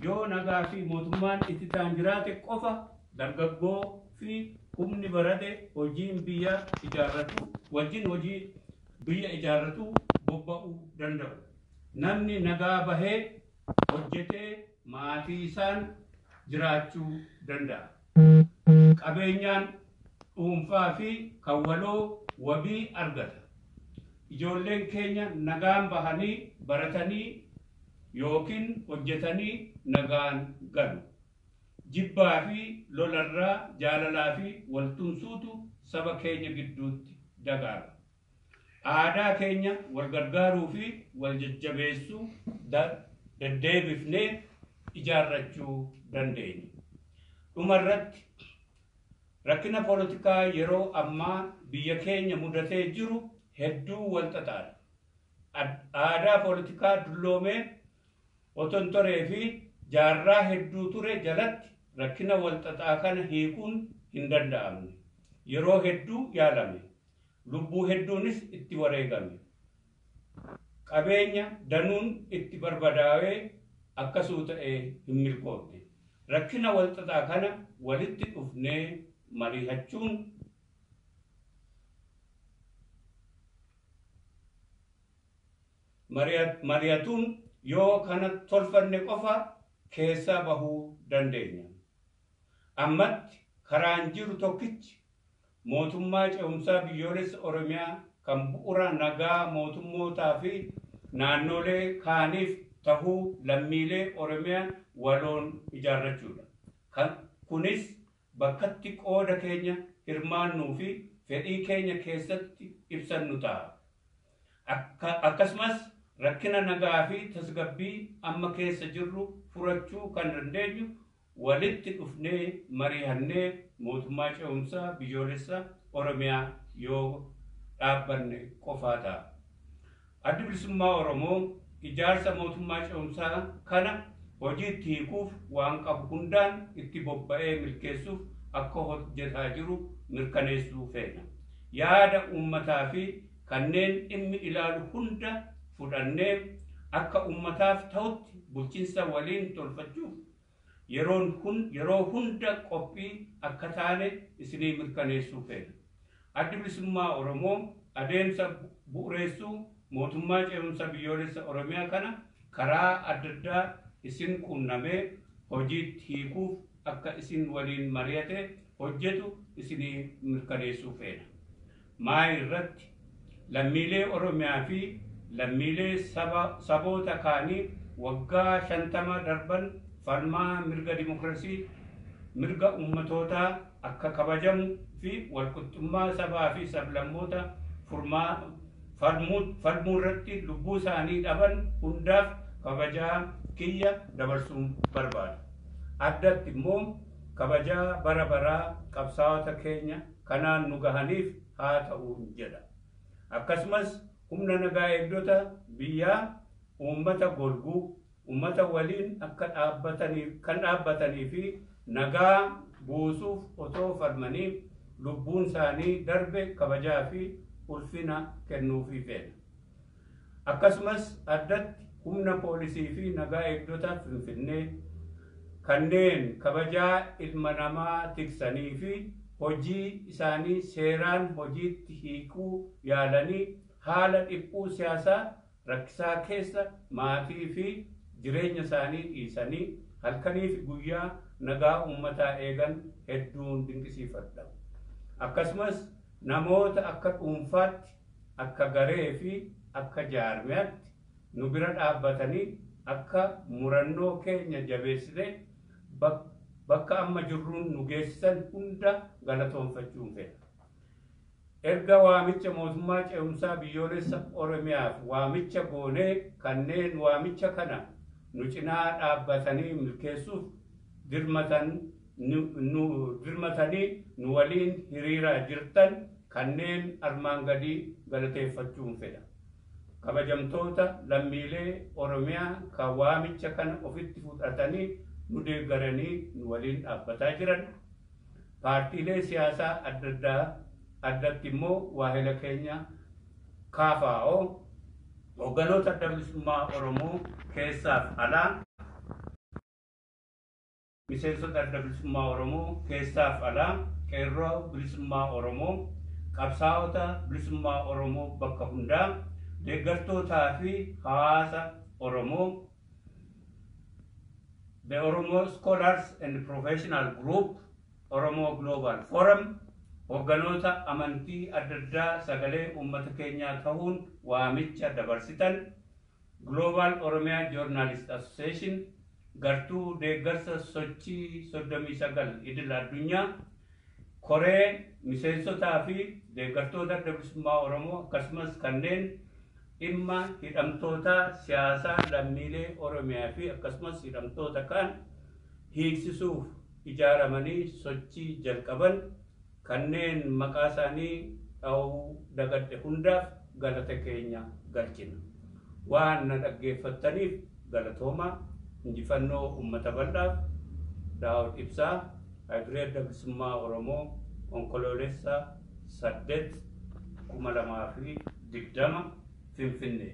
Yoo nagaa fi mootummaan ititaan jiraate qofa dargaggoo fi humni barate hojiin biyya ijaarratu wajjin hojii biyya ijaarratu bobba'u danda'u. Namni nagaa bahee hojjetee maatiisaan jiraachuu danda'a. Qabeenyaan dhuunfaa fi kan waloo wabii argata. Ijoolleen keenya nagaan bahanii baratanii ykn hojjetanii nagaan galu. Jibbaa fi lola irraa jaalalaa fi wal tumsuutu saba keenya gidduutti dagaaga. Aadaa keenya wal gargaaruu fi wal jajjabeessuu deddeebifnee ijaarrachuu dandeenya. Dhuma irratti, rakkina polotikaa yeroo ammaa biyya keenya mudatee jiru hedduu wal xaxaadha. Aadaa polotikaa dulloomee otontoree fi jaarraa hedduu ture jalatti rakkina wal xaxaa kana hiikuun hin danda'amne. Yeroo hedduu yaalame. Lubbuu hedduunis itti wareegame. Qabeenya danuun itti barbadaawee akkasuu ta'ee hin milkoofne. Rakkina walxaxaa kana walitti dhufnee mariihachuun, marihatuun yoo kana tolfanne qofa keessaa bahuu dandeenya. Ammatti karaan jiru tokkichi Mootummaa Ce'umsaa Biyyoolessa Oromiyaa kan bu'ura nagaa mootummootaa fi naannoolee kaaniif tahuu lammiilee Oromiyaa waloon ijaarrachuu dha. Kan Kunis bakkatti qooda keenya hirmaannuu fi fedhii keenya keessatti ibsannu taha. Akka Akkasumas rakkina nagaa fi tasgabbii amma keessa jirru furachuu kan dandeenyu walitti dhufnee marihannee mootummaa ce'umsaa biyyoolessa Oromiyaa yoo dhaabbanne qofaa ta'a. Addi Bilisummaa Oromoo ijaarsa mootummaa ce'umsaa kana hojiitti hiikuuf waan qabu hundaan itti bobba'ee milkeessuuf akka hojjetaa jiru mirkaneessuu feena. Yaada uummataa fi kanneen dhimmi ilaalu hunda fudhannee akka ummataaf ta'utti bulchinsa waliin tolfachuuf yeroo hunda qophii akka taane isinii mirkaneessuu feena. Addi Bilisummaa Oromoo adeemsa bu'ureessuu Mootummaa Ce'umsa Biyyoolessa Oromiyaa kana karaa addaddaa isin quunnamee hojiitti hiikuuf akka isin waliin mari'atee hojjetu isinii mirkaneessuu feena. Maay irratti? Lammiilee Oromiyaa fi lammiilee saba, saboota kaanii waggaa 50 darban falmaa mirga dimokrasii, mirga ummatootaa akka kabajamu fi walqixxummaa sabaa fi sablammoota furmaa, falmu, falmuu irratti lubbuu isaanii dhaban hundaaf kabajaa kiyya dabarsuun barbaada. Addatti immoo kabajaa bara baraa qabsaawota keenya, kanaan nu gahaniif haa ta'uun jedha. Akkasumas humna nagaa eegdota biyyaa uummata golguu, uummata waliin akka dhaabbataniif kan dhaabbatanii fi nagaa buusuuf otoo falmanii lubbuun isaanii darbe kabajaa fi ulfina kennuufii feena. Akkasumas addatti humna poolisii fi nagaa eegdota Finfinnee kanneen kabajaa ilma namaa tiksanii fi hojii isaanii seeraan hojiitti hiikuu yaalanii haala dhiphuu siyaasaa rakkisaa keessa maatii fi jireenya isaanii dhiisanii halkanii fi guyyaa nagaa uummataa eegan hedduun dinqisiifadha. Akkasumas namoota akka dhuunfaatti akka garee fi akka jaarmiyaatti nu bira dhaabbatanii akka murannoo keenya jabeessinee bakka amma jirruun nu geessisan hunda galatoomfachuun fedha. Erga waamicha Mootummaa Ce'umsaa Biyyoolessa Oromiyaaf waamicha goonee kanneen waamicha kana nu cinaa dhaabbatanii milkeessuuf dirmatan nu dirmatanii nu waliin hiriiraa jirtan kanneen armaan gadii galateeffachuun fedha. Kabajamtoota lammiilee Oromiyaa ka waamicha kana ofitti fudhatanii nu deeggaranii nu waliin dhaabbataa jiran, paartiilee siyaasaa adda addaa, addatti immoo waahila keenya KFO, Hoogganoota Adda Bilisummaa Oromoo keessaaf alaa, Miseensota Adda Bilisummaa Oromoo keessaaf alaa, Qeerroo Bilisummaa Oromoo, Qabsaa'ota Bilisummaa Oromoo bakka hundaa, Deeggartootaa fi Hawaasa Oromoo, The Oromo Scholars and Professional Group, Oromo Global Forum, Hogganoota Amantii adda addaa sagalee uummata keenyaa tahuun waamicha dabarsitan, Global Oromia Journalist Association gartuu deeggarsa sochii 39 idil addunyaa koree miseensotaa fi deeggartoota Adda Bilisummaa Oromoo akkasumas kanneen dhimma hidhamtootaa siyaasaa lammiilee Oromiyaa fi akkasumas hidhamtoota kaan hiiksisuuf ijaaramanii sochii jalqaban kanneen maqaa isaanii dhahuu dagadhe hundaaf galata keenya galchina. Waan na dhaggeeffattaniif galatoomaa. Injifannoo Ummata Bal'aaf! Daawud Ibsaa, Haybiree Adda Bilisummaa Oromoo, Onkoloolessa 8, 2020, Finfinnee.